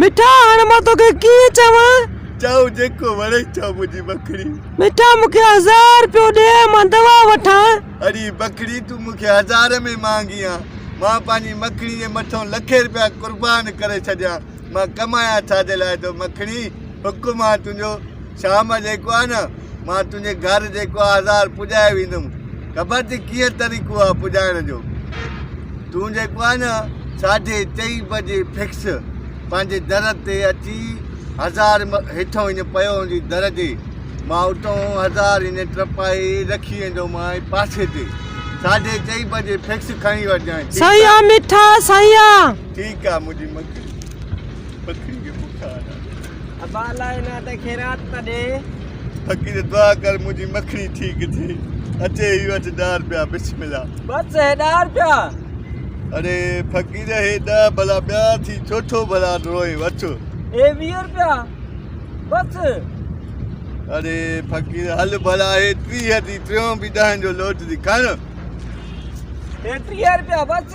مٺا هاڻ مان توکي ڪيئن چوان. چئو جيڪو وڻئي چئو منهنجي بکڙي. مٺا مون کي هزار رپيو ڏي مان دوا وٺان. اڙي بکڙي تون مون کي هزار ۾ مانگين ها مان پنهنجي مکڻي جي مٿئون لکين رپيا قربان ڪري ڇڏيان مان ڪمايان ڇا جي لاء ٿو مکڻي. حڪم آ تنهنجو شام جيڪو آ نه مان تنهنجي گهر جيڪو آ هزار پڄائي ويندم خبر ٿي ڪيئن طريقو آ پڄائڻ جو تون جيڪو آ نه ساڍي چئي بجي فڪس پنهنجي در تي اچي هزار هيٺو هن پيو هوندي در جي مان اتو هزار هن ٽپائي رکي ويندو مان پاسي تي ساڍي چئي بجي فڪس کڻي وٺجانء سائين آ مٺا سائين آ ٺيڪ آ منهنجي مکي پکڙي کي بک آرام ڏي. ابا الله جي نان تي خيرات ته ڏي. فقير دعا ڪر منهنجي مکڙي ٺيڪ ٿئي. اچي هي وٺ ڏهه رپيا بسم الله. بس هي ڏهه رپيا. اڙي فقير هي ڏهه ڀلا ٻيا ٿي چوٿو ڀلا روئين وٺ. هي ويهه رپيا بس. اڙي فقير هل ڀلا هي ٽيهه ٿي ٽيون به ڏهن جو لوٽ ٿي کڻ. هي ٽيهه رپيا بس.